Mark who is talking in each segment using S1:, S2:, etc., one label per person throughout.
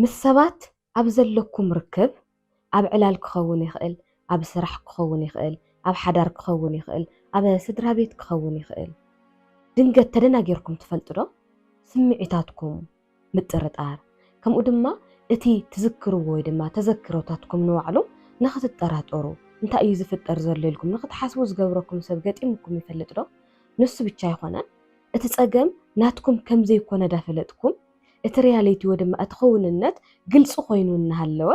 S1: ምስ ሰባት ኣብ ዘለኩም ርክብ ኣብ ዕላል ክኸውን ይኽእል፣ ኣብ ስራሕ ክኸውን ይኽእል፣ ኣብ ሓዳር ክኸውን ይኽእል፣ ኣብ ስድራቤት ክኸውን ይኽእል፣ ድንገት ተደናጊርኩም ትፈልጡ ዶ? ስምዒታትኩም ምጥርጣር ከምኡ ድማ እቲ ትዝክርዎ ወይ ድማ ተዘክሮታትኩም ንባዕሉ ንኽትጠራጠሩ እንታይ እዩ ዝፍጠር ዘሎ ኢልኩም ንኽትሓስቡ ዝገብረኩም ሰብ ገጢሙኩም ይፈልጥ ዶ? ንሱ ብቻ ኣይኮነን እቲ ጸገም ናትኩም ከምዘይኮነ ዳፈለጥኩም እቲ ርያለይቲ ወይ ድማ እቲ ክውንነት ግልፂ ኮይኑ እናሃለወ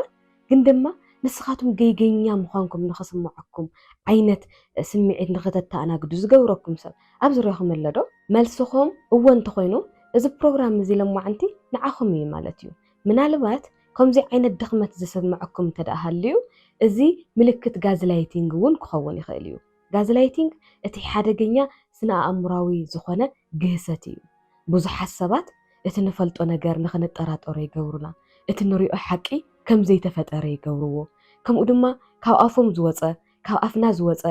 S1: ግን ድማ ንስኻትኩም ገይገኛ ምዃንኩም ንኽስምዐኩም ዓይነት ስምዒት ንኽተተኣናግዱ ዝገብረኩም ሰብ ኣብ ዙርያኹም ኣሎ ዶ? መልስኹም እወ እንተኾይኑ እዚ ፕሮግራም እዚ ሎማዕንቲ ንዓኹም እዩ ማለት እዩ። ምናልባት ከምዙይ ዓይነት ድኽመት ዝስምዐኩም እንተድኣ ሃልዩ እዚ ምልክት ጋዝላይቲንግ እውን ክኸውን ይኽእል እዩ። ጋዝላይቲንግ እቲ ሓደገኛ ስነ-ኣእምሮኣዊ ዝዀነ ግህሰት እዩ። ብዙሓት ሰባት እቲ ንፈልጦ ነገር ንኽንጠራጠሮ ይገብሩና፣ እቲ ንሪኦ ሓቂ ከም ዘይተፈጠረ ይገብርዎ፣ ከምኡ ድማ ካብ ኣፎም ዝወጸ፣ ካብ ኣፍና ዝወጸ፣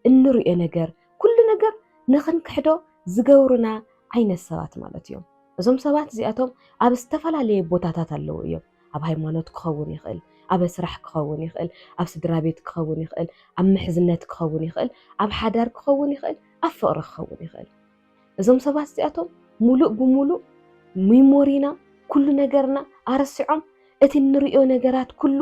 S1: እንርእዮ ነገር፣ ኩሉ ነገር ንኽንክሕዶ ዝገብሩና ዓይነት ሰባት ማለት እዮም። እዞም ሰባት እዚኣቶም ኣብ ዝተፈላለየ ቦታታት ኣለዉ እዮም። ኣብ ሃይማኖት ክኸውን ይኽእል፣ ኣብ ስራሕ ክኸውን ይኽእል፣ ኣብ ስድራቤት ክኸውን ይኽእል፣ ኣብ ምሕዝነት ክኸውን ይኽእል፣ ኣብ ሓዳር ክኸውን ይኽእል፣ ኣብ ፍቕሪ ክኸውን ይኽእል። እዞም ሰባት እዚኣቶም ሙሉእ ብሙሉእ ሚሞሪና ኩሉ ነገርና ኣረሲዖም እቲ እንርእዮ ነገራት ኩሉ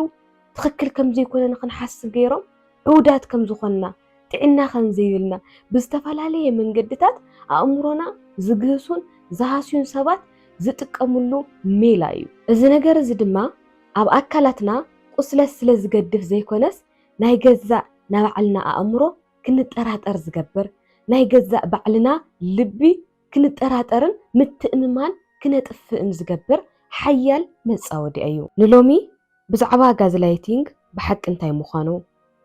S1: ትኽክል ከምዘይኮነ ንኽንሓስብ ገይሮም ዕውዳት ከምዝኾንና ጥዕና ከምዘይብልና ብዝተፈላለየ መንገድታት ኣእምሮና ዝግህሱን ዝሃስዩን ሰባት ዝጥቀምሉ ሜላ እዩ። እዚ ነገር እዚ ድማ ኣብ ኣካላትና ቁስለት ስለ ዝገድፍ ዘይኮነስ ናይ ገዛእ ናባዕልና ኣእምሮ ክንጠራጠር ዝገብር ናይ ገዛእ ባዕልና ልቢ ክንጠራጠርን ምትእምማን ክነጥፍእን ዝገብር ሓያል መጻወድያ እዩ። ንሎሚ ብዛዕባ ጋዝላይቲንግ ብሓቂ እንታይ ምዃኑ፣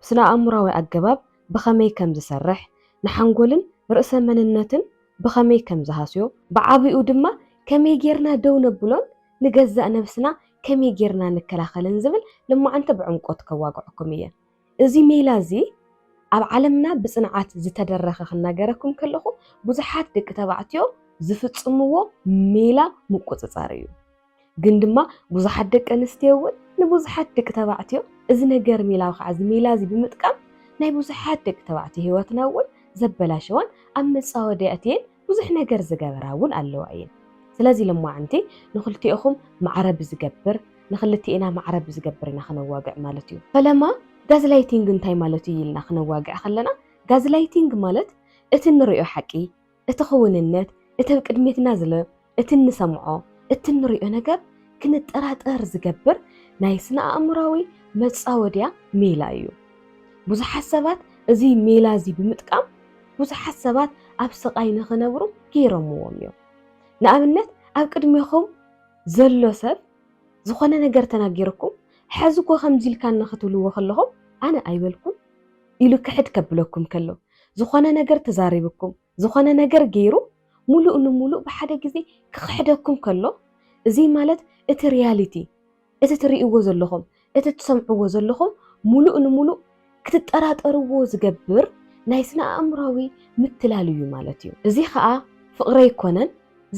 S1: ብስነ-ኣእምሮኣዊ ኣገባብ ብኸመይ ከም ዝሰርሕ፣ ንሓንጎልን ርእሰ መንነትን ብኸመይ ከም ዝሃስዮ፣ ብዓቢኡ ድማ ከመይ ጌርና ደው ነብሎን ንገዛእ ነብስና ከመይ ጌርና ንከላኸልን ዝብል ልማዓንቲ ብዕምቆት ከዋግዐኩም እየ። እዚ ሜላ እዚ ኣብ ዓለምና ብጽንዓት ዝተደረኸ ክናገረኩም ከለኹ ብዙሓት ደቂ ተባዕትዮ ዝፍጽምዎ ሜላ ምቁጽጻር እዩ። ግን ድማ ብዙሓት ደቂ ኣንስትዮ እውን ንብዙሓት ደቂ ተባዕትዮ እዚ ነገር ሜላ ከዓ እዚ ሜላ እዚ ብምጥቃም ናይ ብዙሓት ደቂ ተባዕትዮ ህይወትና እውን ዘበላሸዋን ኣብ መጻወድያትየን ብዙሕ ነገር ዝገበራ እውን ኣለዋ እየን። ስለዚ ሎማዕንቲ ንክልቲኦኹም ማዕረ ብዝገብር ንክልቲኤና ማዕረ ብዝገብር ኢና ክነዋግዕ ማለት እዩ። ፈለማ ጋዝላይቲንግ እንታይ ማለት እዩ ኢልና ክነዋግዕ ከለና ጋዝላይቲንግ ማለት እቲ እንሪኦ ሓቂ፣ እቲ ክውንነት፣ እቲ ኣብ ቅድሜትና ዝሎ፣ እቲ እንሰምዖ፣ እቲ እንሪኦ ነገር ክንጠራጠር ዝገብር ናይ ስነ-ኣእምሮኣዊ መጻወድያ ሜላ እዩ። ብዙሓት ሰባት እዚ ሜላ እዚ ብምጥቃም ብዙሓት ሰባት ኣብ ስቓይ ንኽነብሩ ገይሮምዎም እዮም። ንኣብነት ኣብ ቅድሜኹም ዘሎ ሰብ ዝኾነ ነገር ተናጊሩኩም ሕዚ እኮ ከምዚ ኢልካኒ ክትብልዎ ከለኹም ኣነ ኣይበልኩን ኢሉ ክሕድ ከብለኩም ከሎ ዝኾነ ነገር ተዛሪብኩም ዝኾነ ነገር ገይሩ ሙሉእ ንሙሉእ ብሓደ ግዜ ክኽሕደኩም ከሎ እዚ ማለት እቲ ሪያሊቲ እቲ ትርእይዎ ዘለኹም፣ እቲ ትሰምዕዎ ዘለኹም ሙሉእ ንሙሉእ ክትጠራጠርዎ ዝገብር ናይ ስነ-ኣእምሮኣዊ ምትላል እዩ ማለት እዩ። እዚ ኸኣ ፍቕሪ ኣይኮነን፣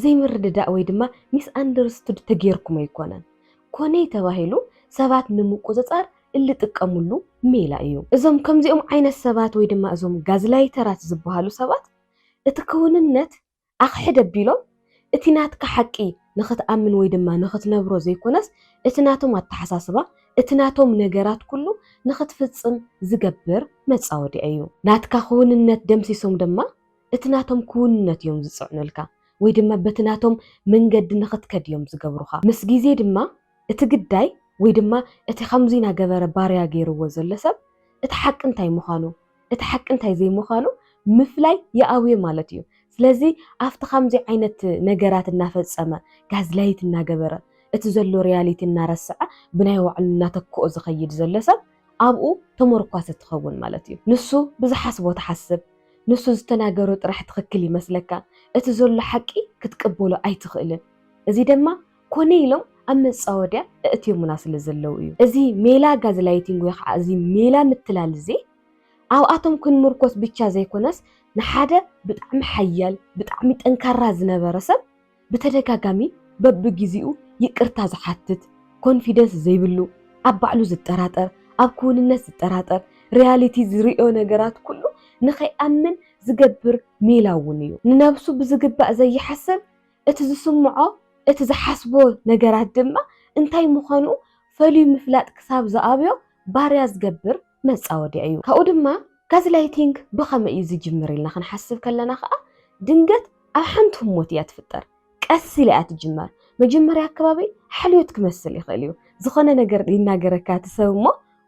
S1: ዘይምርድዳእ ወይ ድማ ሚስኣንደርስቱድ ተገይርኩም ኣይኮነን፣ ኮነይ ተባሂሉ ሰባት ንምቁጽጻር እንጥቀምሉ ሜላ እዩ። እዞም ከምዚኦም ዓይነት ሰባት ወይ ድማ እዞም ጋዝላይተራት ዝበሃሉ ሰባት እቲ ክውንነት ኣኽሕድ ኣቢሎም እቲ ናትካ ሓቂ ንኽትኣምን ወይ ድማ ንኽትነብሮ ዘይኮነስ እቲ ናቶም ኣተሓሳስባ፣ እቲ ናቶም ነገራት ኩሉ ንኽትፍጽም ዝገብር መጻወድያ እዩ። ናትካ ክውንነት ደምሲሶም ድማ እቲ ናቶም ክውንነት እዮም ዝጽዕኑልካ ወይ ድማ በቲ ናቶም መንገዲ ንኽትከድ እዮም ዝገብሩኻ። ምስ ግዜ ድማ እቲ ግዳይ ወይ ድማ እቲ ከምዙይ ናገበረ ባርያ ገይርዎ ዘሎ ሰብ እቲ ሓቂ እንታይ ምዃኑ እቲ ሓቂ እንታይ ዘይምዃኑ ምፍላይ ይኣብዮ ማለት እዩ። ስለዚ ኣብቲ ከምዙይ ዓይነት ነገራት እናፈፀመ ጋዝላይት እናገበረ እቲ ዘሎ ሪያሊቲ እናረሰዐ ብናይ ባዕሉ እናተክኦ ዝኸይድ ዘሎ ሰብ ኣብኡ ተሞርኳሲ ትኸውን ማለት እዩ። ንሱ ብዝሓስቦ ትሓስብ፣ ንሱ ዝተናገሮ ጥራሕ ትኽክል ይመስለካ፣ እቲ ዘሎ ሓቂ ክትቅበሎ ኣይትኽእልን። እዙይ ደማ ኮነ ኢሎም ኣብ መጻወድያ እእትዮሙና ስለ ዘለዉ እዩ። እዚ ሜላ ጋዝላይቲንግ ወይ ኸዓ እዚ ሜላ ምትላል እዚ ኣብኣቶም ክንምርኮስ ብቻ ዘይኮነስ ንሓደ ብጣዕሚ ሓያል ብጣዕሚ ጠንካራ ዝነበረ ሰብ ብተደጋጋሚ በብጊዚኡ ይቅርታ ዝሓትት ኮንፊደንስ ዘይብሉ ኣብ ባዕሉ ዝጠራጠር ኣብ ክውንነት ዝጠራጠር ሪያሊቲ ዝርእዮ ነገራት ኩሉ ንኸይኣምን ዝገብር ሜላ እውን እዩ። ንነብሱ ብዝግባእ ዘይሓስብ እቲ ዝስምዖ እቲ ዝሓስቦ ነገራት ድማ እንታይ ምዃኑ ፈልዩ ምፍላጥ ክሳብ ዝኣብዮ ባርያ ዝገብር መጻወድያ እዩ። ካብኡ ድማ ጋዝላይቲንግ ብኸመይ እዩ ዝጅምር ኢልና ክንሓስብ ከለና ከኣ ድንገት ኣብ ሓንቲ ህሞት እያ ትፍጠር። ቀስ ኢላ እያ ትጅመር። መጀመርያ ኣከባቢ ሓልዮት ክመስል ይኽእል እዩ። ዝኾነ ነገር ይናገረካ እቲ ሰብ እሞ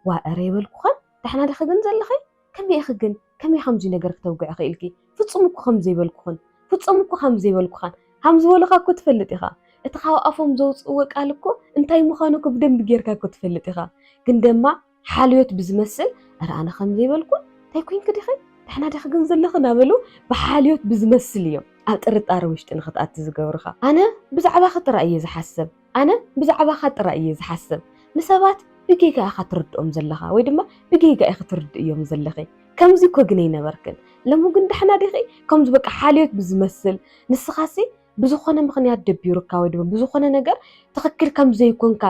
S1: ዋእ እረ ይበልኩኸን ዳሕና ድኺ ግን ዘለኺ ከመይ ኢኺ ግን ከመይ ከምዙይ ነገር ክተውግዒ ኽኢልኪ ፍፁም እኮ ከምዘይበልኩኽን ፍፆም እኮ ከምዘይበልኩኻን ሃምዝበሉኻ እኮ ትፈልጥ ኢኻ እቲ ኻብ ኣፎም ዘውፅእዎ ቃል እኮ እንታይ ምዃኑ እኮ ብደንቢ ጌርካ እኮ ትፈልጥ ኢኻ ግን ደማ ሓልዮት ብዝመስል እረ ኣነ ከምዘይበልኩን እንታይ ኮይንኪ ዲኺ ዳሕና ዲኺ ግን ዘለኺ ናበሉ ብሓልዮት ብዝመስል እዮም ኣብ ጥርጣረ ውሽጢ ንኽትኣቲ ዝገብሩኻ ኣነ ብዛዕባኺ ጥራይ እየ ዝሓስብ ኣነ ብዛዕባኻ ጥራይ እየ ዝሓስብ። ንሰባት ብጌጋ ኢኻ ትርድኦም ዘለኻ ወይ ድማ ብጌጋ ኢኺ ትርድእዮም ዘለኺ። ከምዚ እኮ ግን ኣይነበርክን። ሎሚ ግን ዳሕና ዲኺ? ከምዚ በቃ ሓልዮት ብዝመስል ንስኻሲ ብዝኾነ ምኽንያት ደቢሩካ ወይ ድማ ብዝኾነ ነገር ትኽክል ከም ዘይኮንካ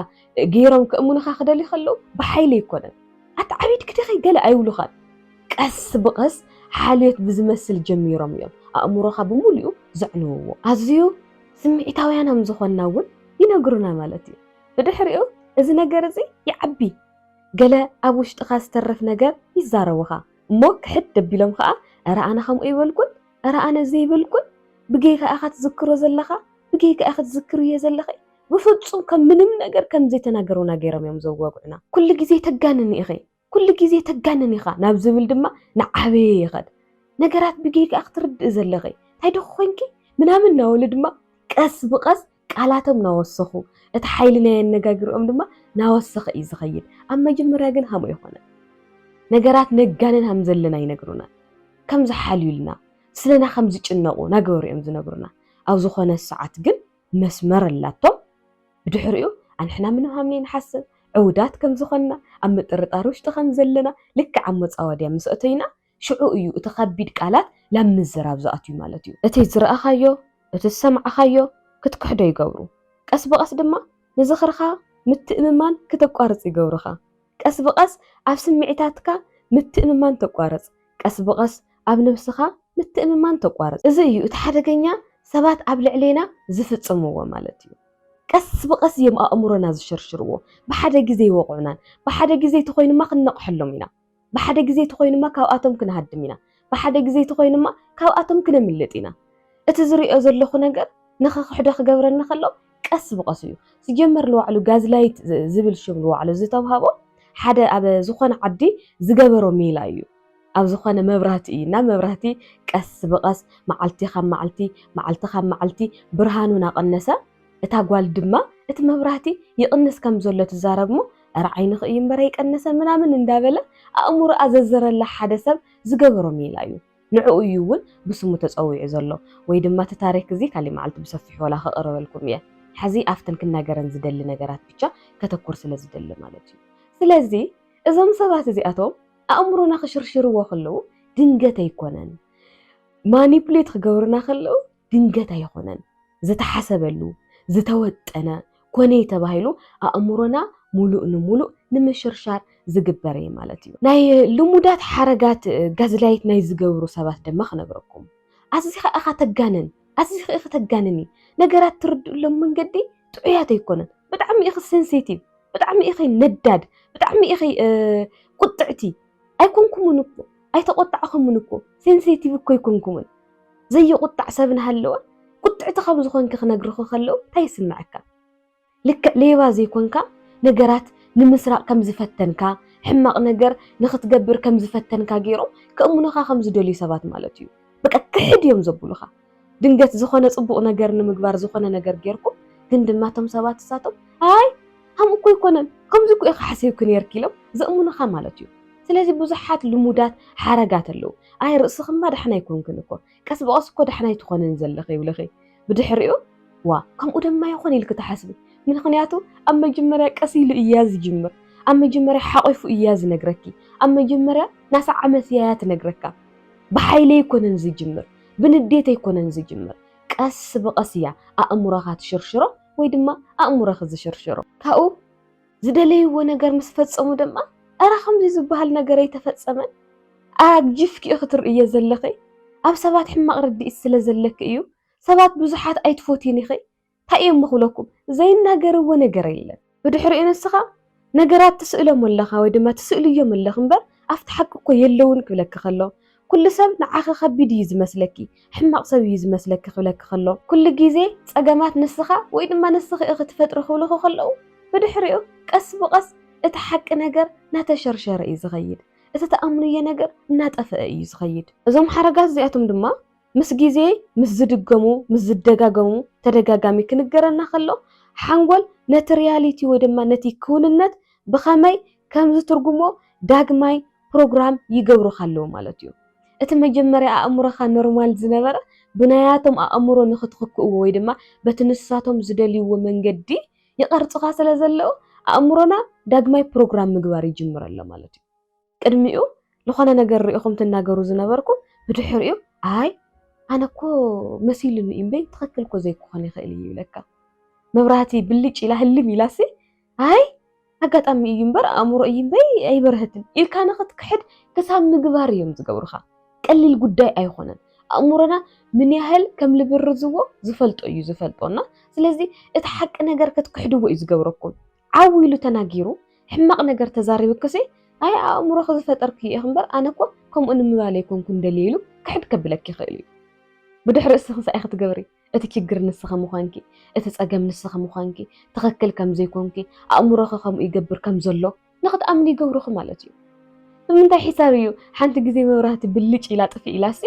S1: ገይሮም ከእምኑኻ ክደልዩ ከለዉ ብሓይሊ ኣይኮነን። ኣተዓቢድኪ ዲኺ ገለ ኣይብሉኻን። ቀስ ብቐስ ሓልዮት ብዝመስል ጀሚሮም እዮም ኣእምሮኻ ብምሉኡ ዘዕንውዎ። ኣዝዩ ስምዒታውያን ከም ዝኾንና እውን ይነግሩና ማለት እዩ። ብድሕሪኡ እዚ ነገር እዚ ይዓቢ፣ ገለ ኣብ ውሽጥኻ ዝተርፍ ነገር ይዛረቡኻ እሞ ክሕድ ደቢሎም ኸኣ እረ ኣነ ከምኡ ኣይበልኩን፣ እረ ኣነ እዚ ኣይበልኩን፣ ብጌጋ ኢኻ ትዝክሮ ዘለኻ፣ ብጌጋ ኢኺ ትዝክርዮ ዘለኺ፣ ብፍጹም ከም ምንም ነገር ከም ዘይተናገሩና ገይሮም እዮም ዘዋግዑና። ኩሉ ግዜ ተጋንኒ ኢኺ፣ ኩሉ ግዜ ተጋንን ኢኻ ናብ ዝብል ድማ ናዓበየ ይኸድ። ነገራት ብጌጋ ኢኺ ትርድኢ ዘለኺ፣ ታይ ዲኺ ኮንኪ ምናምን ናበሉ ድማ ቀስ ብቐስ ቃላቶም ናወሰኹ፣ እቲ ሓይሊ ናይ ኣነጋግርኦም ድማ ናወሰኸ እዩ ዝኸይድ። ኣብ መጀመርያ ግን ሃምኡ ኣይኮነን። ነገራት ነጋንን ሃም ዘለና ኣይነግሩናን። ከም ዝሓልዩልና፣ ስለና ከም ዝጭነቑ ናገበሩ እዮም ዝነግሩና። ኣብ ዝኾነ ሰዓት ግን መስመር ኣላቶም። ብድሕሪኡ ኣንሕና ምንም ሃም ነይንሓስብ፣ ዕውዳት ከም ዝኾንና፣ ኣብ ምጥርጣር ውሽጢ ከም ዘለና፣ ልክዕ ኣብ መጻወድያ ምስ ኣተይና፣ ሽዑ እዩ እቲ ከቢድ ቃላት ላብ ምዝራብ ዝኣትዩ ማለት እዩ። እቲ ዝረኣኻዮ፣ እቲ ዝሰማዕኻዮ ክትክሕዶ ይገብሩ። ቀስ ብቐስ ድማ ንዝኽርኻ ምትእምማን ክተቋርጽ ይገብሩኻ። ቀስ ብቐስ ኣብ ስምዒታትካ ምትእምማን ተቋርጽ። ቀስ ብቐስ ኣብ ነብስኻ ምትእምማን ተቋርጽ። እዚ እዩ እቲ ሓደገኛ ሰባት ኣብ ልዕሌና ዝፍጽምዎ ማለት እዩ። ቀስ ብቐስ እዮም ኣእምሮና ዝሽርሽርዎ። ብሓደ ግዜ ኣይወቕዑናን። ብሓደ ግዜ ተኾይኑማ ክንነቕሐሎም ኢና። ብሓደ ግዜ ተኾይኑማ ካብኣቶም ክንሃድም ኢና። ብሓደ ግዜ ተኾይኑማ ካብኣቶም ክነምልጥ ኢና። እቲ ዝርእዮ ዘለኹ ነገር ንኸኽሕዶ ክገብረኒ ከሎ ቀስ ብቐስ እዩ። ሲጀመር ንባዕሉ ጋዝላይት ዝብል ሽም ንባዕሉ ዝተውሃቦ ሓደ ኣብ ዝኾነ ዓዲ ዝገበሮ ሜላ እዩ። ኣብ ዝኾነ መብራህቲ እዩ እና መብራህቲ ቀስ ብቐስ መዓልቲ ካብ መዓልቲ መዓልቲ ካብ መዓልቲ ብርሃኑ ናቐነሰ እታ ጓል ድማ እቲ መብራህቲ ይቕንስ ከም ዘሎ ትዛረብ'ሞ እረ ዓይንኺ እዩ እምበር ኣይቀነሰን ምናምን እንዳበለ ኣእምሮኣ ዘዘረላ ሓደ ሰብ ዝገበሮ ሜላ እዩ። ንዕኡ እዩ እውን ብስሙ ተጸዊዑ ዘሎ። ወይ ድማ እቲ ታሪክ እዚ ካሊእ መዓልቲ ብሰፊሑ ዋላ ከቕርበልኩም እየ። ሕዚ ኣብተን ክናገረን ዝደሊ ነገራት ብቻ ከተኩር ስለ ዝደሊ ማለት እዩ። ስለዚ እዞም ሰባት እዚኣቶም ኣእምሮና ክሽርሽርዎ ከለዉ ድንገት ኣይኮነን። ማኒፕሌት ክገብሩና ከለዉ ድንገት ኣይኾነን። ዝተሓሰበሉ፣ ዝተወጠነ ኮነይ ተባሂሉ ኣእምሮና ሙሉእ ንሙሉእ ንምሽርሻር ዝግበር'የ ማለት እዩ። ናይ ልሙዳት ሓረጋት ጋዝላይት ናይ ዝገብሩ ሰባት ድማ ክነግረኩም። ኣዚኻ ኢኻ ተጋንን፣ ኣዚኺ ኢኺ ተጋንኒ፣ ነገራት ትርድእሎም መንገዲ ጥዑያት ኣይኮነን፣ ብጣዕሚ ኢኺ ሰንሴቲቭ፣ ብጣዕሚ ኢኺ ነዳድ፣ ብጣዕሚ ኢኺ ቁጥዕቲ፣ ኣይኮንኩምን እኮ ኣይተቆጣዕኹምን እኮ ሴንሴቲቭ እኮ ኣይኮንኩምን ዘይቁጣዕ ሰብ እናሃለወ ቁጥዕቲ ከም ዝኾንኪ ክነግርኺ ከለው እንታይ ይስምዐካ? ልክዕ ሌባ ዘይኮንካ ነገራት ንምስራቕ ከም ዝፈተንካ ሕማቕ ነገር ንኽትገብር ከም ዝፈተንካ ገይሮም ከእምኑኻ ከም ዝደልዩ ሰባት ማለት እዩ። በቃ ክሕድ እዮም ዘብሉኻ። ድንገት ዝኾነ ጽቡቕ ነገር ንምግባር ዝኾነ ነገር ጌርኩ፣ ግን ድማ እቶም ሰባት ንሳቶም ኣይ ከምኡ እኮ ኣይኮነን ከምዚ እኮ ኢኺ ሓሲብኪ ኔርኪ ኢሎም ዘእምኑኻ ማለት እዩ። ስለዚ ብዙሓት ልሙዳት ሓረጋት ኣለዉ። ኣይ ርእስኽማ ዳሕና ኣይኮንክን እኮ፣ ቀስ ብቐስ እኮ ዳሕና ኣይትኾንን ዘለኺ ይብልኺ። ብድሕሪኡ ዋእ ከምኡ ደማ ይኾን ኢልኪ ትሓስቢ። ምኽንያቱ ኣብ መጀመርያ ቀስ ኢሉ እያ ዝጅምር፣ ኣብ መጀመርያ ሓቚፉ እያ ዝነግረኪ፣ ኣብ መጀመርያ ናሰዓመት እያ ትነግረካ፣ ብሓይሊ ኣይኮነን ዝጅምር። ብንዴት ኣይኮነን ዝጅምር ቀስ ብቀስ እያ ኣእምሮኻ ትሽርሽሮ ወይ ድማ ኣእምሮኺ ዝሽርሽሮ ካብኡ ዝደለይዎ ነገር ምስ ፈጸሙ ድማ ኣረ ከምዚ ዝበሃል ነገር ኣይተፈጸመን ኣግጅፍኪ ኢኺ ትርእዮ ዘለኺ ኣብ ሰባት ሕማቕ ርድኢት ስለ ዘለኪ እዩ ሰባት ብዙሓት ኣይትፎትይን ኢኺ ታይ እየ'ሞ ክብለኩም ዘይናገርዎ ነገር የለን ብድሕሪኡ ንስኻ ነገራት ትስእሎም ኣለኻ ወይ ድማ ትስእልዮም ኣለኺ እምበር ኣብቲ ሓቂ እኮ የለዉን ክብለኪ ከሎ ኩሉ ሰብ ንዓኺ ከቢድ እዩ ዝመስለኪ ሕማቕ ሰብ እዩ ዝመስለኪ ክብለኪ ከሎ ኩሉ ግዜ ፀገማት ንስኻ ወይ ድማ ንስኺ ኢኺ ትፈጥሪ ክብልኺ ከለዉ ብድሕሪኡ ቀስ ብቐስ እቲ ሓቂ ነገር ናተሸርሸረ እዩ ዝኸይድ እቲ ትኣምንዮ ነገር እናጠፈኣ እዩ ዝኸይድ። እዞም ሓረጋት እዚኣቶም ድማ ምስ ግዜ ምስ ዝድገሙ ምስ ዝደጋገሙ ተደጋጋሚ ክንገረና ከሎ ሓንጎል ነቲ ርያሊቲ ወይ ድማ ነቲ ክውንነት ብኸመይ ከም ዝትርጉሞ ዳግማይ ፕሮግራም ይገብሩኻ ኣለዉ ማለት እዩ። እቲ መጀመርያ ኣእምሮኻ ኖርማል ዝነበረ ብናያቶም ኣእምሮ ንኽትኽክእዎ ወይ ድማ በቲ ንሳቶም ዝደልይዎ መንገዲ ይቐርጹኻ ስለ ዘለዉ ኣእምሮና ዳግማይ ፕሮግራም ምግባር ይጅምር ኣሎ ማለት እዩ። ቅድሚኡ ልኾነ ነገር ሪኢኹም ትናገሩ ዝነበርኩም ብድሕሪኡ ኣይ ኣነ እኮ መሲሉኒ እዩ እምበይ ትኽክል እኮ ዘይክኾን ይኽእል እዩ ይብለካ። መብራህቲ ብልጭ ኢላ ህልም ኢላሲ ኣይ ኣጋጣሚ እዩ እምበር ኣእምሮ እዩ እምበይ ኣይበርህትን ኢልካ ንኽትክሕድ ክሳብ ምግባር እዮም ዝገብሩኻ። ቀሊል ጉዳይ ኣይኾነን። ኣእምሮና ምን ያህል ከም ልብርዝዎ ዝፈልጦ እዩ ዝፈልጦና። ስለዚ እቲ ሓቂ ነገር ክትክሕድዎ እዩ ዝገብረኩም። ዓው ኢሉ ተናጊሩ ሕማቕ ነገር ተዛሪብክሲ ኣይ ኣእምሮኺ ዝፈጠርክዮ ኢኺ እምበር ኣነ እኮ ከምኡ ንምባል ኣይኮንኩን ደልየ ኢሉ ክሕድ ከብለኪ ይኽእል እዩ። ብድሕሪ እስኺ እንታይ ክትገብሪ እቲ ችግር ንስኺ ምዃንኪ እቲ ጸገም ንስኺ ምዃንኪ ትኽክል ከም ዘይኮንኪ ኣእምሮኺ ከምኡ ይገብር ከም ዘሎ ንኽትኣምኒ ይገብርኺ ማለት እዩ። ብምንታይ ሒሳብ እዩ ሓንቲ ግዜ መብራህቲ ብልጭ ኢላ ጥፍእ ኢላሲ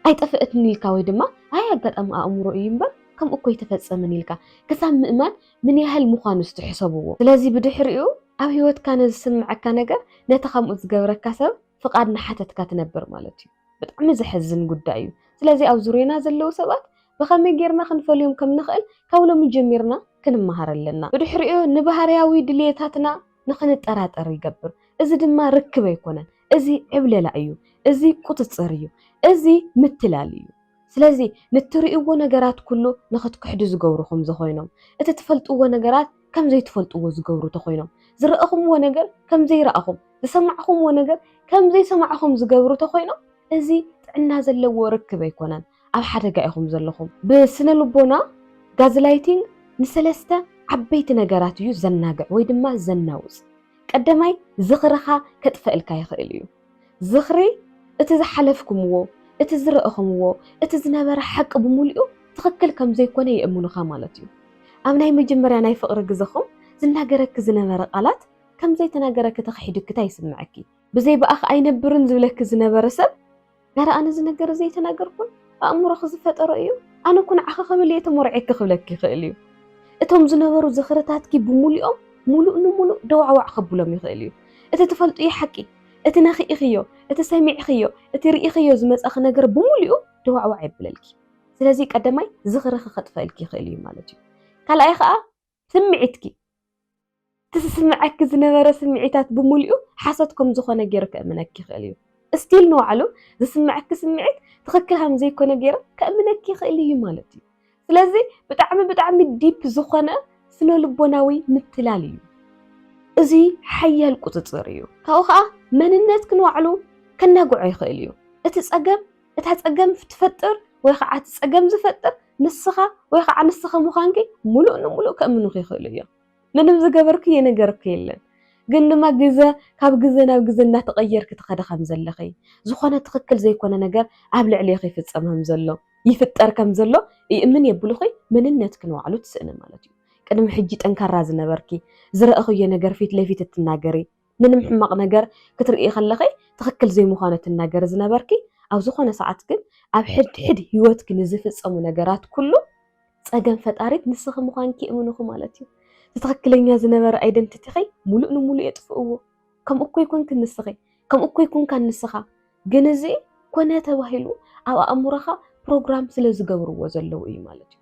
S1: ኣይጠፍእትን ኢልካ ወይ ድማ ኣይ ኣጋጣሚ ኣእምሮ እዩ እምበር ከምኡ እኮ ኣይተፈጸመን ኢልካ ክሳብ ምእማን ምን ያህል ምዃኑ እስቲ ሕሰብዎ። ስለዚ ብድሕሪኡ ኣብ ህይወትካ ንዝስምዐካ ነገር ነቲ ከምኡ ዝገብረካ ሰብ ፍቓድ እናሓተትካ ትነብር ማለት እዩ። ብጣዕሚ ዘሕዝን ጉዳይ እዩ። ስለዚ ኣብ ዙርዮና ዘለዉ ሰባት ብኸመይ ጌርና ክንፈልዮም ከም ንኽእል ካብ ሎሚ ጀሚርና ክንመሃር ኣለና። ብድሕሪኡ ንባህርያዊ ድልየታትና ንኽንጠራጠር ይገብር። እዚ ድማ ርክብ ኣይኮነን። እዚ ዕብለላ እዩ፣ እዚ ቁፅፅር እዩ፣ እዚ ምትላል እዩ። ስለዚ ንትሪእዎ ነገራት ኩሉ ንኽትክሕዱ ዝገብሩ ከምዘኾይኖም፣ እቲ ትፈልጥዎ ነገራት ከምዘይትፈልጥዎ ዝገብሩ ተኾይኖም፣ ዝረእኹምዎ ነገር ከምዘይረኣኹም፣ ዝሰማዕኹምዎ ነገር ከምዘይሰማዕኹም ዝገብሩ ተኾይኖም እዚ ጥዕና ዘለዎ ርክብ ኣይኮነን። ኣብ ሓደጋ ኢኹም ዘለኹም። ብስነ-ልቦና ጋዝላይቲንግ ንሰለስተ ዓበይቲ ነገራት እዩ ዘናግዕ ወይ ድማ ዘናውጽ። ቀዳማይ ዝኽርኻ ከጥፈእልካ ይኽእል እዩ። ዝኽሪ እቲ ዝሓለፍኩምዎ፣ እቲ ዝረእኹምዎ፣ እቲ ዝነበረ ሓቂ ብምሉኡ ትኽክል ከም ዘይኮነ የእምኑኻ ማለት እዩ። ኣብ ናይ መጀመርያ ናይ ፍቕሪ ግዘኹም ዝናገረኪ ዝነበረ ቃላት ከም ዘይተናገረኪ ተኽሒዱኪታ ይስምዐኪ። ብዘይ ብኣኺ ኣይነብርን ዝብለኪ ዝነበረ ሰብ ኣረ ኣነ እዚ ነገር እዚ ኣይተናገርኩን ኣእምሮኺ ዝፈጠሮ እዩ ኣነ እኮ ንዓኺ ክብል እየ ተሞርዔኪ ክብለኪ ይኽእል እዩ እቶም ዝነበሩ ዝኽርታትኪ ብምሉኦም ሙሉእ ንሙሉእ ደዋዕዋዕ ከብሎም ይኽእል እዩ እቲ ትፈልጥዮ ሓቂ እቲ ነኺእኽዮ እቲ ሰሚዕኽዮ እቲ ርኢኽዮ ዝመፀኺ ነገር ብምሉኡ ደዋዕዋዕ የብለልኪ ስለዚ ቀዳማይ ዝኽርኺ ከጥፈእልኪ ይኽእል እዩ ማለት እዩ ካልኣይ ከዓ ስምዒትኪ፣ እቲ ዝስምዓኪ ዝነበረ ስምዒታት ብምሉኡ ሓሶት ከም ዝኾነ ገይሩ ከእምነኪ ይኽእል እዩ። እስቲል ንባዕሉ ዝስምዓኪ ስምዒት ትኽክል ሃም ዘይኮነ ገይሩ ከእምነኪ ይኽእል እዩ ማለት እዩ። ስለዚ ብጣዕሚ ብጣዕሚ ዲፕ ዝኾነ ስነልቦናዊ ምትላል እዩ። እዙይ ሓያል ቁፅፅር እዩ። ካብኡ ከዓ መንነትኪ ንባዕሉ ከናግዖ ይኽእል እዩ። እቲ ፀገም እታ ፀገም ትፈጥር ወይ ከዓ እቲ ፀገም ዝፈጥር ንስኻ ወይ ከዓ ንስኺ ምዃንኪ ሙሉእ ንሙሉእ ከእምኑኺ ይኽእሉ እዮም። ምንም ዝገበርክዮ ነገር እኮ የለን ግን ድማ ግዘ ካብ ግዘ ናብ ግዘ እናተቐየርኪ ትኸዲ ከምዘለኺ ዝኾነ ትኽክል ዘይኮነ ነገር ኣብ ልዕሌኺ ይፍፀም ከምዘሎ ይፍጠር ከምዘሎ ይእምን የብሉኺ መንነትኪ ንባዕሉ ትስእኒ ማለት እዩ። ቅድሚ ሕጂ ጠንካራ ዝነበርኪ ዝረእኽዮ ነገር ፊት ለፊት እትናገሪ ምንም ሕማቅ ነገር ክትርእይ ከለኺ ትኽክል ዘይምዃኑ ትናገሪ ዝነበርኪ ኣብ ዝኾነ ሰዓት ግን ኣብ ሕድሕድ ሂወትኪ ንዝፍጸሙ ነገራት ኩሉ ጸገም ፈጣሪት ንስኺ ምዃንኪ የእምኑኺ ማለት እዩ። እቲ ትኽክለኛ ዝነበረ ኣይደንቲቲኺ ሙሉእ ንሙሉእ የጥፍእዎ። ከምኡ እኮ ኣይኮንክን ንስኺ። ከምኡ እኮ ኣይኮንካን ንስኻ። ግን እዚ ኮነ ተባሂሉ ኣብ ኣእምሮኻ ፕሮግራም ስለ ዝገብርዎ ዘለዉ እዩ ማለት እዩ።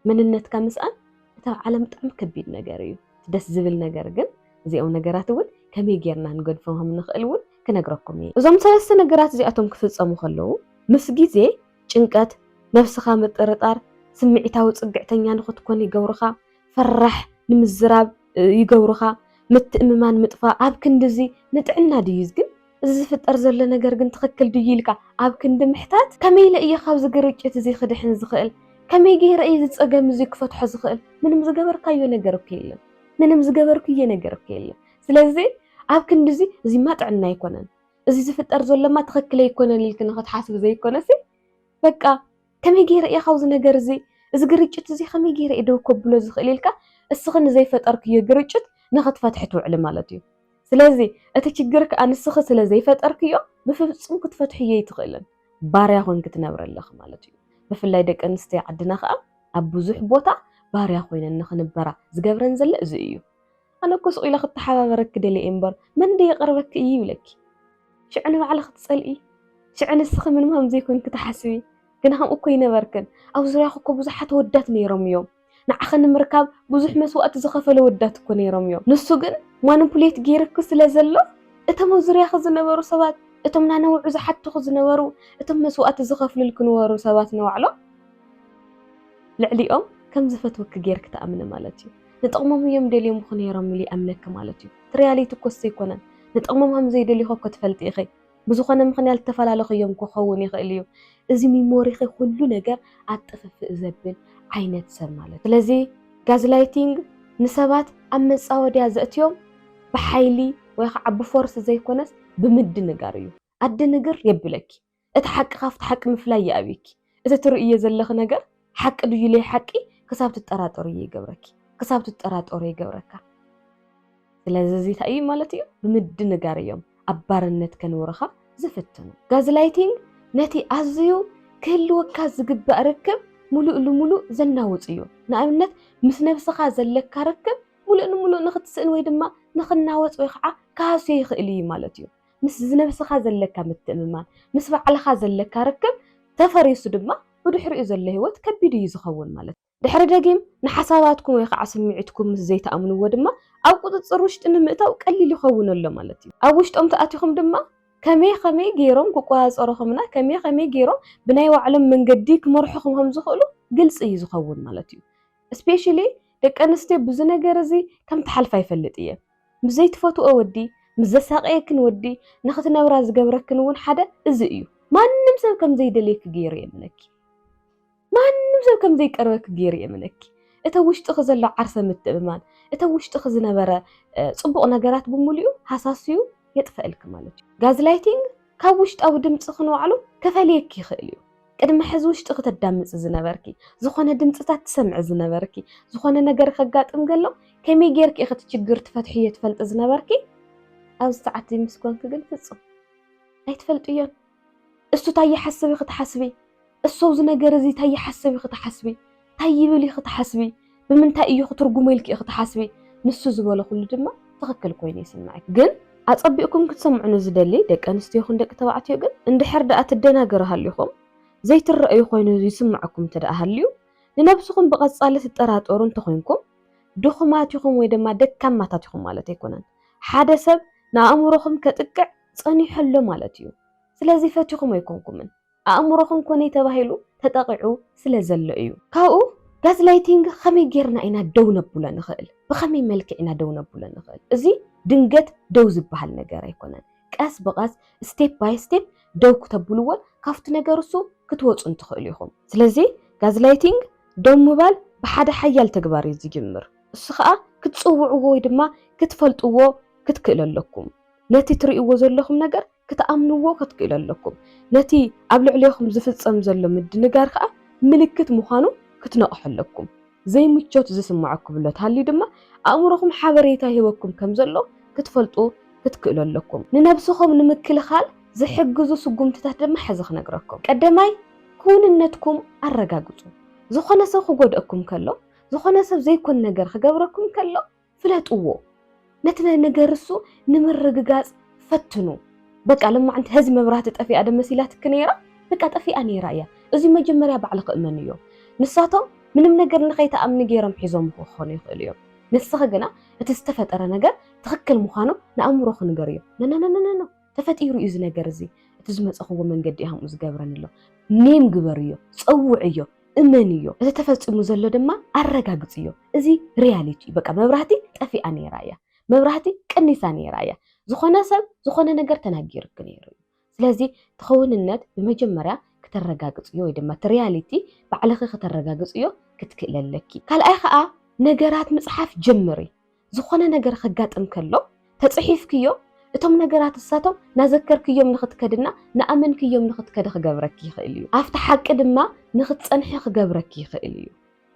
S1: መንነትካ ምስኣን እቲ ኣብ ዓለም ብጣዕሚ ከቢድ ነገር እዩ። እቲ ደስ ዝብል ነገር ግን እዚኦም ነገራት እውን ከመይ ጌርና ንገድፎም ከም ንኽእል እውን ክነግረኩም እየ። እዞም ሰለስተ ነገራት እዚኣቶም ክፍጸሙ ከለዉ ምስ ግዜ ጭንቀት፣ ነብስኻ ምጥርጣር፣ ስምዒታዊ ጽግዕተኛ ንኽትኮን ይገብሩኻ፣ ፈራሕ ንምዝራብ ይገብሩኻ፣ ምትእምማን ምጥፋእ፣ ኣብ ክንድዚ ንጥዕና ድዩ ግን እዚ ዝፍጠር ዘሎ ነገር ግን ትኽክል ድዩ ኢልካ ኣብ ክንዲ ምሕታት ከመይ ኢለ እየ ካብዚ ግርጭት እዚ ክድሕን ዝኽእል? ከመይ ገይረ እየ እዚ ፀገም እዚ ክፈትሖ ዝኽእል? ምንም ዝገበርካዮ ነገር እኮ የለን። ምንም ዝገበርኩዬ ነገር እኮ የለን። ስለዚ ኣብ ክንዲ እዚ እዚማ ጥዕና ኣይኮነን፣ እዚ ዝፍጠር ዘሎማ ትኽክል ኣይኮነን ኢልኪ ንኽትሓስቢ ዘይኮነሲ በቃ ከመይ ገይረ እየ ካብዚ ነገር እዚ እዚ ግርጭት እዚ ከመይ ገይረ እየ ደው ከብሎ ዝኽእል ኢልካ እስኺ ንዘይፈጠርክዮ ግርጭት ንኽትፈትሒ ትውዕሊ ማለት እዩ። ስለዚ እቲ ችግር ከዓ ንስኺ ስለ ዘይፈጠርክዮ ብፍጹም ክትፈትሕዮ ኣይትኽእልን። ባርያ ኮንኪ ትነብሪ ኣለኺ ማለት እዩ። ብፍላይ ደቂ ኣንስትዮ ዓድና ከዓ ኣብ ብዙሕ ቦታ ባርያ ኮይነን ንኽንበራ ዝገብረን ዘሎ እዚ እዩ። ኣነ እኮ ስቕ ኢለ ክተሓባበረኪ ደልየ እየ እምበር መን ደይ ይቐርበኪ እዩ ይብለኪ ሽዑ ንባዕልኺ ትጸልኢ ሽዑ ንስኺ ምንም ከም ዘይኮንኪ ትሓስቢ ግና ከምኡ እኮ ኣይነበርክን ኣብ ዙርያኺ እኮ ብዙሓት ኣወዳት ነይሮም እዮም ንዓኺ ንምርካብ ብዙሕ መስዋእቲ ዝኸፈለ ወዳት እኮ ነይሮም እዮም ንሱ ግን ማኑፕሌት ገይርኪ ስለ ዘሎ እቶም ኣብ ዙርያኺ ዝነበሩ ሰባት እቶም ናነውዑ ዝሓቱኺ ዝነበሩ እቶም መስዋእቲ ዝኸፍልልኪ ነበሩ ሰባት ንባዕሎም ልዕሊኦም ከም ዝፈትወኪ ገይርኪ ትኣምኒ ማለት እዩ ንጥቕሞም እዮም ደልዮምኹ ነይሮም ኢሉ ይኣምነኪ ማለት እዩ። እቲ ሪያሊቲ እኮ እሱ ኣይኮነን። ንጥቕሞም ከም ዘይደልዩኺ እኮ ትፈልጢ ኢኺ። ብዝኾነ ምኽንያት ልተፈላለኹዮም ክኸውን ይኽእል እዩ። እዚ ሚሞሪኺ ኩሉ ነገር ኣብ ጥፍፍእ ዘብል ዓይነት ሰብ ማለት እዩ። ስለዚ ጋዝላይቲንግ ንሰባት ኣብ መጻወድያ ዘእትዮም ብሓይሊ ወይ ኸዓ ብፎርስ ዘይኮነስ ብምድንጋር እዩ። ኣደ ንግር የብለኪ እቲ ሓቂ ካብቲ ሓቂ ምፍላይ ይኣብየኪ እቲ ትርእዮ ዘለኺ ነገር ሓቂ ድዩ ለይ ሓቂ ክሳብ ትጠራጠርዮ ይገብረኪ ክሳብ ትጠራጠሮ ይገብረካ ስለዚ እዚ እንታይ እዩ ማለት እዩ ብምድንጋር እዮም ኣብ ባርነት ከንብሩኻ ዝፍትኑ ጋዝላይቲንግ ነቲ ኣዝዩ ክህልወካ ዝግባእ ርክብ ሙሉእ ልሙሉእ ዘናውፅ እዩ ንኣብነት ምስ ነብስኻ ዘለካ ርክብ ሙሉእ ንሙሉእ ንኽትስእን ወይ ድማ ንኽናወፅ ወይ ኸዓ ክሃስዮ ይኽእል እዩ ማለት እዩ ምስ ዝነብስኻ ዘለካ ምትእምማን፣ ምስ ባዕልኻ ዘለካ ርክብ ተፈሪሱ ድማ ብድሕሪኡ ዘሎ ህይወት ከቢድ እዩ ዝኸውን ማለት እዩ። ድሕሪ ደጊም ንሓሳባትኩም ወይ ኻዓ ስምዒትኩም ምስ ዘይትኣምንዎ ድማ ኣብ ቁፅፅር ውሽጢ ንምእታው ቀሊል ይኸውን ኣሎ ማለት እዩ። ኣብ ውሽጦም ተኣቲኹም ድማ ከመይ ኸመይ ገይሮም ክቆፃፀሩኹምና ከመይ ኸመይ ገይሮም ብናይ ባዕሎም መንገዲ ክመርሑኹም ኸም ዝኽእሉ ግልፂ እዩ ዝኸውን ማለት እዩ። ስፔሽሊ ደቂ ኣንስትዮ ብዚ ነገር እዚ ከም ትሓልፋ ይፈልጥ እየ። ምስ ዘይትፈትውኦ ወዲ፣ ምስ ዘሳቕየክን ወዲ ንኽትነብራ ዝገብረክን እውን ሓደ እዚ እዩ። ማንም ሰብ ከም ዘይደልየኪ ገይሩ የእምነኪ። ማንም ሰብ ከም ዘይቀርበኪ ገይሩ የእምነኪ። እቲ ኣብ ውሽጥኺ ዘሎ ዓርሰ ምትእምማን፣ እቲ ኣብ ውሽጥኺ ዝነበረ ጽቡቕ ነገራት ብምሉኡ ሃሳስዩ የጥፈእልኪ ማለት እዩ። ጋዝላይቲንግ ካብ ውሽጣዊ ድምጽኺ ንባዕሉ ከፈልየኪ ይኽእል እዩ። ቅድሚ ሕዚ ውሽጢ ክተዳምፂ ዝነበርኪ፣ ዝኾነ ድምፅታት ትሰምዒ ዝነበርኪ፣ ዝኾነ ነገር ከጋጥም ከሎ ከመይ ጌርኪ ኢኺ እቲ ችግር ትፈትሕዮ ትፈልጢ ዝነበርኪ፣ ኣብዚ ሰዓት እዚ ምስ ኮንኪ ግን ፍፁም ኣይትፈልጥዮን። እሱ ታይ ይሓስብ ኢኺ ትሓስቢ፣ እሱ ኣብዚ ነገር እዚ ታይ ይሓስብ ኢኺ ትሓስቢ፣ እንታይ ይብል ኢኺ ትሓስቢ? ብምንታይ እዮ ክትርጉሞ ኢልኪ ኢኺ ትሓስቢ? ንሱ ዝበሎ ኩሉ ድማ ትኽክል ኮይኑ ይስምዕኪ። ግን ኣጸቢቕኩም ክትሰምዑኒ ዝደሊ ደቂ ኣንስትዮ ይኹን ደቂ ተባዕትዮ ግን እንድሕር ደኣ ትደናገሩ ሃሊኹም፣ ዘይትረኣዩ ኮይኑ ይስምዕኩም እንተደኣ ሃልዩ፣ ንነብስኹም ብቐጻሊ ትጠራጠሩ እንተኾይንኩም፣ ድኹማት ኢኹም ወይ ድማ ደካማታት ኢኹም ማለት ኣይኮነን። ሓደ ሰብ ንኣእምሮኹም ከጥቅዕ ጸኒሑ ኣሎ ማለት እዩ። ስለዚ ፈቲኹም ኣይኮንኩምን። ኣእምሮኹም ኮነይ ተባሂሉ ተጠቒዑ ስለ ዘሎ እዩ። ካብኡ ጋዝላይቲንግ ከመይ ጌርና ኢና ደው ነብሎ ንኽእል? ብኸመይ መልክዕ ኢና ደው ነብሎ ንኽእል? እዚ ድንገት ደው ዝበሃል ነገር ኣይኮነን። ቀስ ብቐስ ስቴፕ ባይ ስቴፕ ደው ክተብልዎን ካብቲ ነገር እሱ ክትወጹን ትኽእሉ ኢኹም። ስለዚ ጋዝላይቲንግ ደው ምባል ብሓደ ሓያል ተግባር እዩ ዝጅምር። እሱ ከኣ ክትጽውዕዎ ወይ ድማ ክትፈልጥዎ ክትክእሉ ኣለኩም። ነቲ ትርእይዎ ዘለኹም ነገር ክትኣምንዎ ክትክእሉ ኣለኩም። ነቲ ኣብ ልዕሌኹም ዝፍጸም ዘሎ ምድንጋር ከኣ ምልክት ምዃኑ ክትነቕሑ ኣለኩም። ዘይምቾት ዝስምዓኩም እሎትሃልዩ ድማ ኣእምሮኹም ሓበሬታ ይህበኩም ከም ዘሎ ክትፈልጡ ክትክእሉ ኣለኩም። ንነብስኹም ንምክልኻል ዝሕግዙ ስጉምትታት ድማ ሕዚ ክነግረኩም። ቀደማይ ክውንነትኩም ኣረጋግጹ። ዝኾነ ሰብ ክጎድኣኩም ከሎ፣ ዝኾነ ሰብ ዘይኮን ነገር ክገብረኩም ከሎ፣ ፍለጥዎ ነቲ ናይ ነገርሱ ንምርግጋጽ ፈትኑ በቃ ለማዕንቲ ሀዚ መብራህቲ ጠፊኣ ደ መሲላትኪ ነይራ በቃ ጠፊኣ ነይራ እያ እዙይ መጀመርያ ባዕልኺ እመን እዮ ንሳቶም ምንም ነገር ንኸይትኣምኒ ገይሮም ሒዞም ክኾኑ ይኽእሉ እዮም ንስኺ ግና እቲ ዝተፈጠረ ነገር ትኽክል ምዃኑ ንኣእምሮኺ ንገርዮ ነነነነነነ ተፈጢሩ እዩ እዚ ነገር እዚ እቲ ዝመጸኽዎ መንገዲ እዩ ከምኡ ዝገብረኒ ዘሎ ኔም ግበርዮ ጸውዕዮ እመንዮ እዚ ተፈጺሙ ዘሎ ድማ ኣረጋግጽዮ እዚ ሪያሊቲ እዩ በቃ መብራህቲ ጠፊኣ ነይራ እያ መብራህቲ ቀኒሳ ነይራ እያ ዝኾነ ሰብ ዝኾነ ነገር ተናጊርክ ነይሩ እዩ ስለዚ ትኸውንነት ብመጀመርያ ክተረጋግጽዮ ወይ ድማ እቲ ሪያሊቲ ባዕልኺ ክተረጋግጽዮ ክትክእለለኪ ካልኣይ ከዓ ነገራት ምፅሓፍ ጀምሪ ዝኾነ ነገር ከጋጥም ከሎ ተጽሒፍክዮ እቶም ነገራት እሳቶም ናዘከርክዮም ንኽትከድና ንኣመንክዮም ንኽትከዲ ክገብረኪ ይኽእል እዩ። ኣብቲ ሓቂ ድማ ንኽትጸንሒ ክገብረኪ ይኽእል እዩ።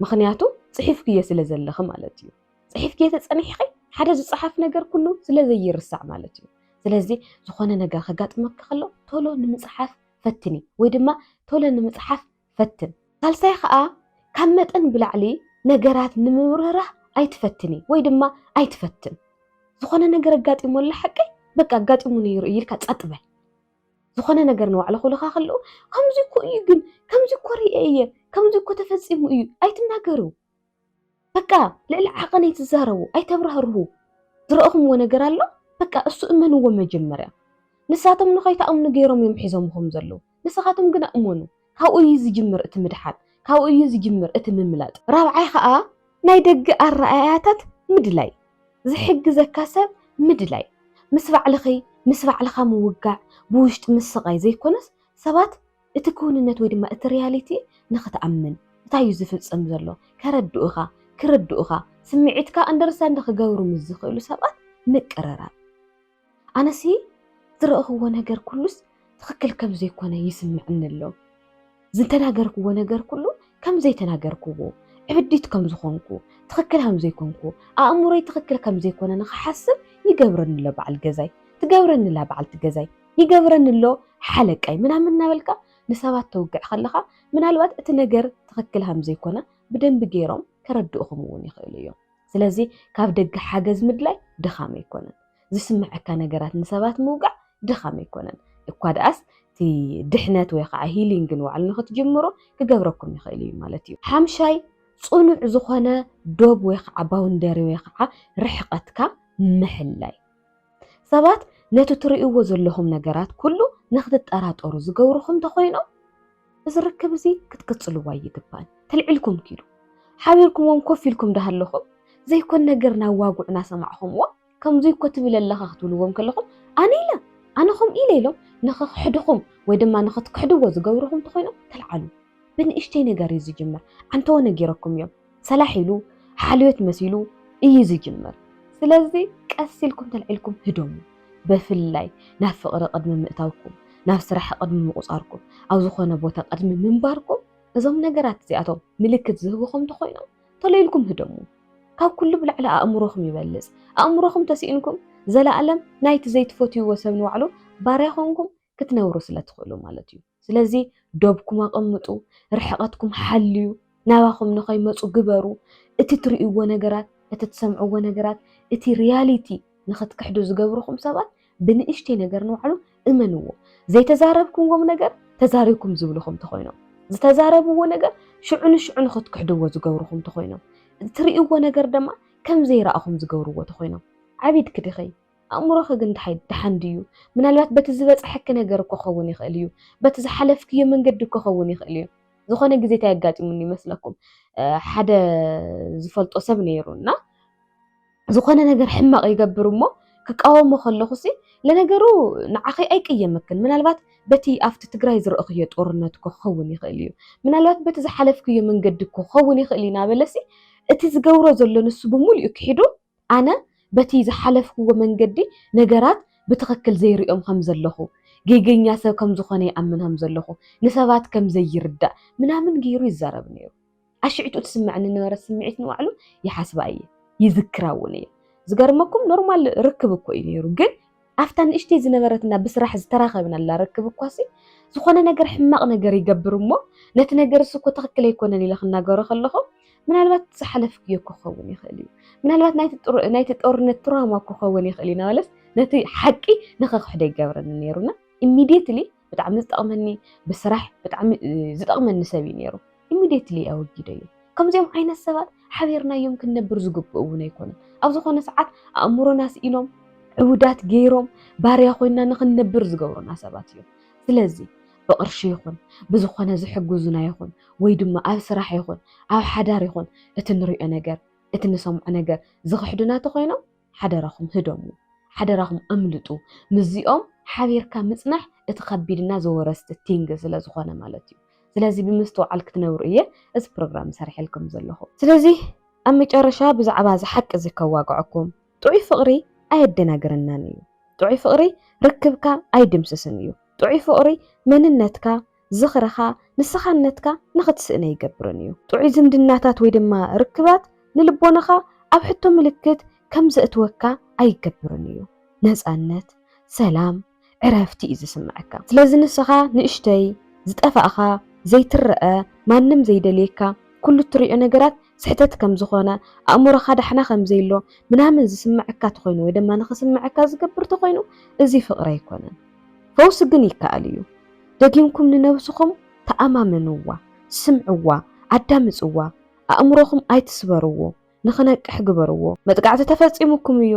S1: ምኽንያቱ ጽሒፍክዮ ስለ ዘለኺ ማለት እዩ። ጽሒፍክዮ ተጸኒሕኺ ሓደ ዝጸሓፍ ነገር ኩሉ ስለ ዘይርሳዕ ማለት እዩ። ስለዚ ዝኾነ ነገር ከጋጥመኪ ከሎ ቶሎ ንምጽሓፍ ፈትኒ ወይ ድማ ቶሎ ንምጽሓፍ ፈትን። ሳልሳይ ኸኣ ካብ መጠን ብላዕሊ ነገራት ንምብርህራህ ኣይትፈትኒ ወይ ድማ ኣይትፈትን። ዝኾነ ነገር ኣጋጢሙ ኣሎ ሓቂ በቃ ኣጋጢሙ ነይሩ እዩ ኢልካ ጸጥ በል። ዝኾነ ነገር ንባዕሉ ክብልኻ ከለዉ ከምዚ እኮ እዩ ግን ከምዚ እኮ ርእየ እየ ከምዚ እኮ ተፈጺሙ እዩ ኣይትናገሩ። በቃ ልዕሊ ዓቐን ኣይትዛረቡ፣ ኣይተብራህርሁ። ዝረእኹምዎ ነገር ኣሎ? በቃ እሱ እመንዎ መጀመርያ። ንሳቶም ንኸይትኣምኑ ገይሮም እዮም ሒዞምኹም ዘለዉ። ንስኻትኩም ግና እመኑ። ካብኡ እዩ ዝጅምር እቲ ምድሓን፣ ካብኡ እዩ ዝጅምር እቲ ምምላጥ። ራብዓይ ኸኣ ናይ ደገ ኣረኣእያታት ምድላይ፣ ዝሕግዘካ ሰብ ምድላይ። ምስ ባዕልኺ፣ ምስ ባዕልኻ ምውጋዕ፣ ብውሽጢ ምስቓይ ዘይኮነስ ሰባት እቲ ክውንነት ወይ ድማ እቲ ሪያሊቲ ንኽትኣምን እንታይ እዩ ዝፍጽም ዘሎ ከረድኡኻ ክርድኡኻ ስምዒትካ ኣንደርስታንድ ንኽገብሩ ምስ ዝኽእሉ ሰባት ምቅርራብ ኣነሲ ዝረእኽዎ ነገር ኩሉስ ትኽክል ከም ዘይኮነ ይስምዕኒ ኣሎ ዝተናገርክዎ ነገር ኩሉ ከም ዘይተናገርክዎ ዕብዲት ከም ዝኾንኩ ትኽክል ከም ዘይኮንኩ ኣእምሮይ ትኽክል ከም ዘይኮነ ንኽሓስብ ይገብረኒ ኣሎ በዓል ገዛይ ትገብረኒ ኣላ በዓልቲ ገዛይ ይገብረኒ ኣሎ ሓለቃይ ምናምን እናበልካ ንሰባት ተውግዕ ከለኻ ምናልባት እቲ ነገር ትኽክል ከምዘይኮነ ብደንቢ ገይሮም ከረድኡኹም እውን ይኽእሉ እዮም። ስለዚ ካብ ደገ ሓገዝ ምድላይ ድኻም ኣይኮነን። ዝስምዐካ ነገራት ንሰባት ምውጋዕ ድኻም ኣይኮነን። እኳ ደኣስ እቲ ድሕነት ወይ ከዓ ሂሊንግ ንባዕሉ ንክትጅምሩ ክገብረኩም ይኽእል እዩ ማለት እዩ። ሓምሻይ ፅኑዕ ዝኾነ ዶብ ወይ ከዓ ባውንደሪ ወይ ከዓ ርሕቐትካ ምሕላይ ሰባት ነቲ እትርእይዎ ዘለኹም ነገራት ኩሉ ንኽትጠራጠሩ ዝገብሩኹም እንተኾይኖም እዚ ርክብ እዚ ክትቅጽልዎ ኣይግባእን። ተልዒልኩም ኪዱ ሓቢርኩምዎም ኮፍ ኢልኩም ዳሃለኹም ዘይኮን ነገር ናዋጉዕ ናሰማዕኹምዎ ከምዚ እኮ ትብል ኣለኻ ክትብልዎም ከለኹም ኣነ ኢለ ኣነ ከምኡ ኢለ ኢሎም ንኽክሕድኹም ወይ ድማ ንኽትክሕድዎ ዝገብሩኹም እንተኾይኖም ተልዓሉ። ብንእሽተይ ነገር እዩ ዝጅምር ዓንተዎ ነጊረኩም እዮም። ሰላሕ ኢሉ ሓልዮት መሲሉ እዩ ዝጅምር ስለዚ ቀስ ኢልኩም ተልዒልኩም ህደሙ በፍላይ ናብ ፍቅሪ ቅድሚ ምእታውኩም ናብ ስራሕ ቅድሚ ምቁጻርኩም ኣብ ዝኾነ ቦታ ቅድሚ ምንባርኩም እዞም ነገራት እዚኣቶም ምልክት ዝህቡኹም እንተኾይኖም ተሎ ኢልኩም ህደሙ ካብ ኩሉ ብላዕሊ ኣእምሮኹም ይበልጽ ኣእምሮኹም ተሲእንኩም ዘለኣለም ናይቲ ዘይትፈትይዎ ሰብ ንባዕሉ ባርያ ኮንኩም ክትነብሩ ስለ ትኽእሉ ማለት እዩ። ስለዚ ዶብኩም ኣቐምጡ፣ ርሕቐትኩም ሓልዩ፣ ናባኹም ንኸይመፁ ግበሩ፣ እቲ ትርእይዎ ነገራት፣ እቲ ትሰምዕዎ ነገራት፣ እቲ ሪያሊቲ ንኽትክሕዱ ዝገብርኹም ሰባት ብንእሽተይ ነገር ንባዕሉ እመንዎ። ዘይተዛረብኩምዎም ነገር ተዛሪብኩም ዝብልኹም ተኾይኖም፣ ዝተዛረብዎ ነገር ሽዑ ንሽዑ ንኽትክሕድዎ ዝገብርኹም ተኾይኖም፣ እትርእይዎ ነገር ድማ ከም ዘይረኣኹም ዝገብርዎ ተኾይኖም ዓቢድኪ ዲኺ? ኣእምሮኺ ግን ድሃይ ደሓን ድዩ? ምናልባት በቲ ዝበጸሐኪ ነገር እኮ ክኸውን ይኽእል እዩ። በቲ ዝሓለፍክዮ መንገዲ እኮ ክኸውን ይኽእል እዩ። ዝኾነ ግዜ እንታይ ኣጋጢሙኒ ይመስለኩም? ሓደ ዝፈልጦ ሰብ ነይሩ እና ዝኾነ ነገር ሕማቕ ይገብር እሞ ክቃወሞ ከለኹሲ ለነገሩ ንዓኺ ኣይቅየመክን ምናልባት በቲ ኣብቲ ትግራይ ዝረእኽዮ ጦርነት እኮ ክኸውን ይኽእል እዩ ምናልባት በቲ ዝሓለፍክዮ መንገዲ እኮ ክኸውን ይኽእል እዩ እናበለሲ እቲ ዝገብሮ ዘሎ ንሱ ብምሉኡ ክሒዱ ኣነ በቲ ዝሓለፍክዎ መንገዲ ነገራት ብትኽክል ዘይርእዮም ከም ዘለኹ፣ ጌገኛ ሰብ ከም ዝኾነ ይኣምን ከም ዘለኹ፣ ንሰባት ከም ዘይርዳእ ምናምን ገይሩ ይዛረብ ነይሩ። ኣሽዕቱ እትስመዐኒ እነበረት ስምዒት ንባዕሉ ይሓስባ እየ፣ ይዝክራ እውን እየ። ዝገርመኩም ኖርማል ርክብ እኮ እዩ ነይሩ ግን፣ ኣብታ ንእሽተይ ዝነበረትና ብስራሕ ዝተራኸብናላ ርክብ እኳሲ፣ ዝኾነ ነገር ሕማቕ ነገር ይገብር እሞ፣ ነቲ ነገር እሱ እኮ ትኽክል ኣይኮነን ኢለ ክናገሮ ከለኹ፣ ምናልባት ዝሓለፍክዮ እኮ ክኸውን ይኽእል እዩ፣ ምናልባት ናይቲ ጦርነት ትራውማ እኮ ክኸውን ይኽእል እዩ እናበለስ ነቲ ሓቂ ንኸኽሕዶ ይገብረኒ ነይሩና። ኢሚድየትሊ ብጣዕሚ ዝጠቕመኒ ብስራሕ ብጣዕሚ ዝጠቕመኒ ሰብ እዩ ነይሩ ኢሚድየትሊ ኣወጊደዮ ከምዚኦም ዓይነት ሰባት ሓቢርናዮም ክንነብር ዝግብኡ እውን ኣይኮነን ኣብ ዝኾነ ሰዓት ኣእምሮና ስኢኖም ዕውዳት ገይሮም ባርያ ኮይና ንክንነብር ዝገብሩና ሰባት እዮም ስለዚ ብቕርሺ ይኹን ብዝኾነ ዝሕግዙና ይኹን ወይ ድማ ኣብ ስራሕ ይኹን ኣብ ሓዳር ይኹን እቲ ንሪኦ ነገር እቲ ንሰምዖ ነገር ዝኽሕዱና ተኮይኖም ሓደራኹም ህደሙ ሓደራኹም ኣምልጡ ምስዚኦም ሓቢርካ ምጽናሕ እቲ ከቢድና ዘወረስቲ ቲንግ ስለ ዝኾነ ማለት እዩ ስለዚ ብምስትውዓል ክትነብሩ እየ እዚ ፕሮግራም ሰርሐልኩም ዘለኹ ስለዚ ኣብ መጨረሻ ብዛዕባ እዚ ሓቂ እዚ ከዋግዐኩም ጥዑይ ፍቕሪ ኣየደናግረናን እዩ ጥዑይ ፍቕሪ ርክብካ ኣይድምስስን እዩ ጥዑይ ፍቕሪ መንነትካ ዝኽርኻ ንስኻነትካ ንኽትስእነ ይገብርን እዩ። ጥዑይ ዝምድናታት ወይ ድማ ርክባት ንልቦናኻ ኣብ ሕቶ ምልክት ከም ዘእትወካ ኣይገብርን እዩ። ነጻነት፣ ሰላም፣ ዕረፍቲ እዩ ዝስምዐካ። ስለዚ ንስኻ ንእሽተይ፣ ዝጠፋእኻ፣ ዘይትረኣ፣ ማንም ዘይደልየካ፣ ኩሉ እትሪኦ ነገራት ስሕተት ከም ዝኾነ፣ ኣእምሮኻ ዳሕና ከም ዘይሎ ምናምን ዝስምዐካ ተኾይኑ ወይ ድማ ንኽስምዐካ ዝገብር ተኾይኑ እዚ ፍቕሪ ኣይኮነን። ፈውሲ ግን ይከኣል እዩ። ደጊምኩም ንነብስኹም ተኣማመንዋ፣ ስምዕዋ፣ ኣዳምጽዋ፣ ኣእምሮኹም ኣይትስበርዎ፣ ንኽነቅሕ ግበርዎ። መጥቃዕቲ ተፈጺሙኩም እዩ፣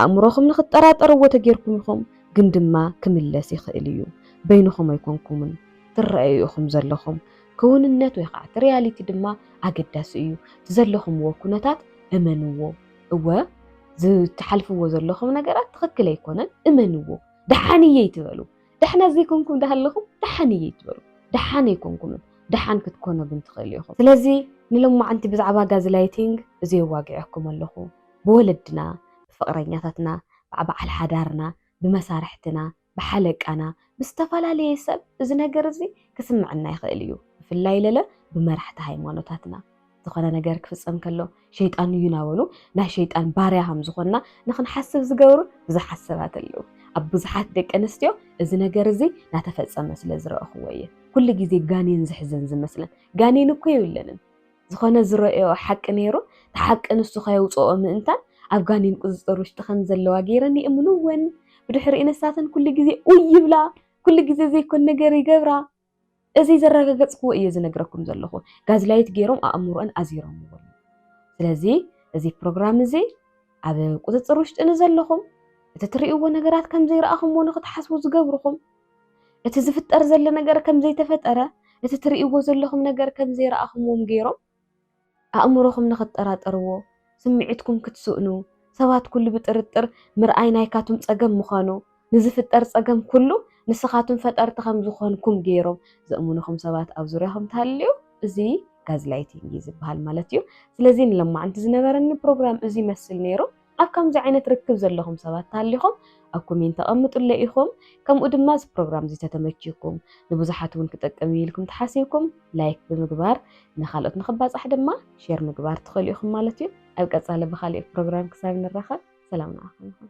S1: ኣእምሮኹም ንኽጠራጠርዎ ተጌርኩም ኢኹም፣ ግን ድማ ክምለስ ይኽእል እዩ። በይንኹም ኣይኮንኩምን ትረኣዩ ኢኹም ዘለኹም። ክውንነት ወይ ኸኣ እቲ ሪያሊቲ ድማ ኣገዳሲ እዩ። እቲ ዘለኹምዎ ኩነታት እመንዎ። እወ ዝትሓልፍዎ ዘለኹም ነገራት ትኽክል ኣይኮነን፣ እመንዎ። ደሓን እየ ኣይትበሉ። ደሕና ዘይኮንኩም ዳሃለኹም ደሓን እየ ኣይትበሉ። ደሓን ኣይኮንኩምን፣ ደሓን ክትኮኑ ግን ትኽእሉ ኢኹም። ስለዚ ንሎማዓንቲ ብዛዕባ ጋዝላይቲንግ እዚ የዋግዔኩም ኣለኹ። ብወለድና፣ ብፍቕረኛታትና፣ ብዓበዓል ሓዳርና፣ ብመሳርሕትና፣ ብሓለቃና፣ ብዝተፈላለየ ሰብ እዚ ነገር እዚ ክስምዐና ይኽእል እዩ፣ ብፍላይ ለለ ብመራሕቲ ሃይማኖታትና። ዝኾነ ነገር ክፍጸም ከሎ ሸይጣን እዩ እናበሉ ናይ ሸይጣን ባርያ ከም ዝኾንና ንክንሓስብ ዝገብሩ ብዙሓት ሰባት ኣለዉ። ኣብ ብዙሓት ደቂ ኣንስትዮ እዚ ነገር እዚ እናተፈጸመ ስለ ዝረእኽዎ እየ ኩሉ ግዜ ጋኔን ዝሕዘን ዝመስለን። ጋኔን እኮ የብለንን። ዝኾነ ዝረእየኦ ሓቂ ነይሩ፣ እቲ ሓቂ ንሱ ከየውጽኦ ምእንታን ኣብ ጋኔን ቁጽጽር ውሽጢ ከም ዘለዋ ገይረን ይእምንወን። ብድሕሪኡ ንሳተን ኩሉ ግዜ ኡይ ይብላ፣ ኩሉ ግዜ ዘይኮን ነገር ይገብራ። እዚ ዘረጋገጽክዎ እየ ዝነግረኩም ዘለኹ ጋዝላይት ገይሮም ኣእምሮኣን ኣዚሮምዎ ስለዚ እዚ ፕሮግራም እዚ ኣብ ቁጽጽር ውሽጢ ንዘለኹም እቲ ትርእይዎ ነገራት ከም ዘይረኣኹምዎ ንኽትሓስቡ ዝገብርኹም እቲ ዝፍጠር ዘሎ ነገር ከም ዘይተፈጠረ እቲ ትርእይዎ ዘለኹም ነገር ከም ዘይረኣኹምዎም ገይሮም ኣእምሮኹም ንኽትጠራጠርዎ፣ ስምዒትኩም ክትስእኑ፣ ሰባት ኩሉ ብጥርጥር ምርኣይ ናይካቱም ጸገም ምዃኑ፣ ንዝፍጠር ጸገም ኩሉ ንስኻቱም ፈጠርቲ ከም ዝኾንኩም ገይሮም ዘእምኑኹም ሰባት ኣብ ዙርያኹም ተሃልዩ እዚ ጋዝላይቲንግ እዩ ዝበሃል ማለት እዩ። ስለዚ ንሎማዓንቲ ዝነበረኒ ፕሮግራም እዚ ይመስል ነይሩ። ኣብ ከምዚ ዓይነት ርክብ ዘለኹም ሰባት ተሃሊኹም ኣብ ኮሜንት ኣቐምጡለይ ኢኹም፣ ከምኡ ድማ እዚ ፕሮግራም እዚ ተተመችዩኩም ንብዙሓት እውን ክጠቅም እዩ ኢልኩም ተሓሲብኩም ላይክ ብምግባር ንኻልኦት ንኽባጻሕ ድማ ሼር ምግባር ትኽእሉ ኢኹም ማለት እዩ። ኣብ ቀጻሊ ብኻልእ ፕሮግራም ክሳብ ንራኸብ ሰላም ንዓኹም ይኹን።